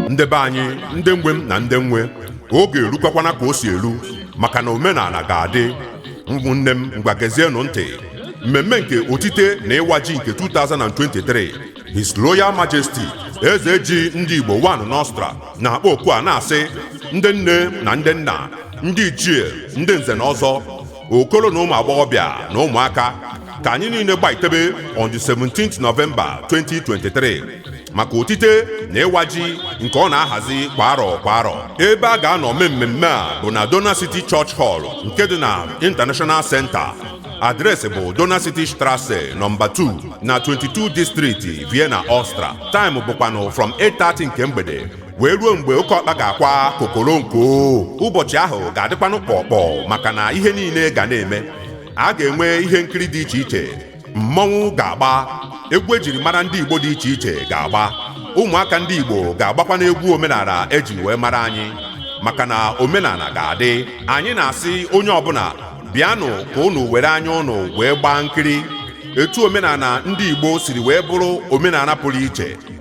ndị be anyị ndị nwe m na ndị m nwe oge erukwakwana ka o si eru maka na omenana ga-adị ụmụnne m ngwa gezienụ ntị mmemme nke otite na ịwa ji nke 2023 His Royal Majesty eze ji ndị Igbo 1 n'Austria na-akpọ oku a na-asị ndị nne na ndị nna ndị ichie ndị nze na ọzọ okolo na ụmụ agbọghọbịa na ụmụaka ka anyị niile gbaitebe on the 17th November 2023 maka otite na ịwa ji nke ọ na-ahazi kwa arọ kwa arọ ebe a ga-anọ mee mmemme a bụ na Donau City Church Hall nke dị na International Center address bụ Donau City Strasse number 2 na 22 District Vienna Austria time bụkwanụ from 8:30 nke mgbede wee ruo mgbe oke ọkpa ga-akwa kokoronko ụbọchị ahụ ga-adịkwanụ kpọkpọ maka na ihe niile ga na-eme a ga-enwe ihe nkiri dị iche iche mmọnwụ ga-agba egwu ejiri mara ndị Igbo dị iche iche ga-agba ụmụaka ndị Igbo ga-agbakwanụ egwu omenana eji wee mara anyị maka na omenana ga-adị anyị na-asị onye ọbụla bịanụ ka unu were anya unu wee gbaa nkiri etu omenana ndị Igbo siri wee bụrụ omenana pụrụ iche